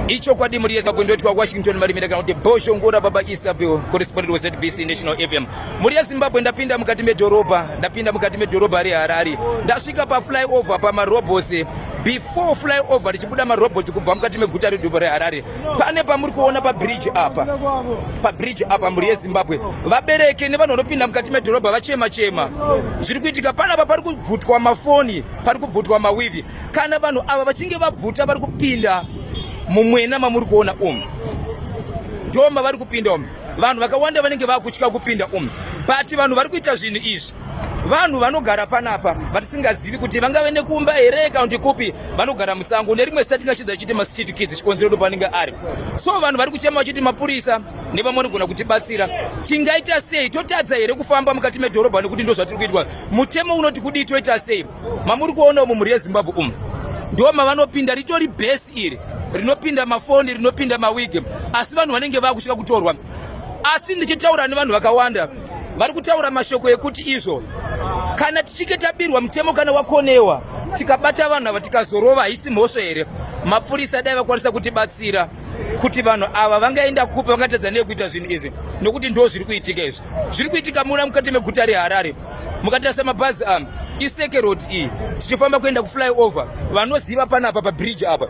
ichokwadi muri yese makwendo edu washington marimira kana kuti bosho ngora baba isabel correspondent wezbc national fm muri yezimbabwe ndapinda mukati medhorobha ndapinda mukati medhorobha reharare ndasvika paflyover pamarobos before flyover richibuda marobot kubva mukati meguta redhorobha reharare pane pamuri kuona pabridge apa pabridge apa mhuri yezimbabwe vabereke nevanhu vanopinda mukati medhorobha vachema chema zviri kuitika panapa pari kubvutwa mafoni pari kubvutwa mawivi Kana vanhu ava vachinge vabvuta vari kupinda mumwena mamuri kuona umu ndoma vari kupinda umu vanhu vakawanda vanenge vakutya kupinda umu but vanhu vari kuita zvinhu izvi vanhu vanogara panapa vatisingazivi kuti vangave nekumba here kana kuti kupi vanogara musango nerimwe zita tingashidza chiti mastreet kids chikonzero ndo panenge ari so vanhu vari kuchema vachiti mapurisa nevamwe vanogona kutibatsira tingaita sei totadza here kufamba mukati medhorobha nekuti ndo zvatiri kuitwa mutemo unoti kudii toita sei mamuri kuona umu mhuri yezimbabwe umu ndo mavanopinda ritori bhesi iri rinopinda mafoni rinopinda mawigi asi vanhu vanenge vakusvika kutorwa asi ndichitaura nevanhu vakawanda vari kutaura mashoko ekuti izvo kana tichinge tabirwa mutemo kana wakonewa tikabata vanhu ava tikazorova haisi mhosva here mapurisa dai vakwanisa kutibatsira kuti vanhu ava vangaenda kupi vangatadza nekuita zvinhu izvi nokuti ndo zviri kuitika izvi zviri kuitika muna mukati meguta reharare mukatarisa mabhazi ano iseke road iyi tichifamba kuenda kuflyover vanoziva panapa pabridge apa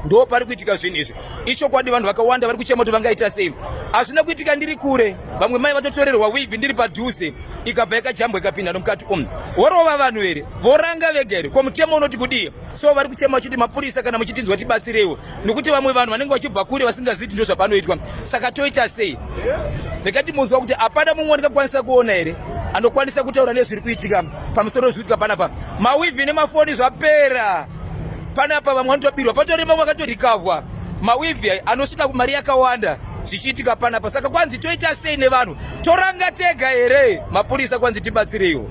ndo pari kuitika zvinhu izvi ichokwadi vanhu vakawanda vari kuchema kuti vangaita sei hazvina kuitika ndiri kure vamwe mai vatotorerwa wivhi ndiri padhuze ikabva yakajambwa ikapinda nomukati umu vorova vanhu here voranga vega here ko mutemo unoti kudii so vari kuchema vachiti mapurisa kana muchitinzwa tibatsireiwo nokuti vamwe vanhu vanenge vachibva kure vasingaziti ndo zvapanoitwa saka toita sei rekati muziva kuti hapana mumwe andingakwanisa kuona here anokwanisa kutaura nezviri kuitika pamusoro wezvikuitika panapa mawivi nemafoni zvapera panapa vamwe vanotobirwa patori vamwe vakatorikavwa mawivi anosvika mari yakawanda zvichiitika panapa saka kwanzi toita sei nevanhu toranga tega here mapurisa kwanzi tibatsireiwo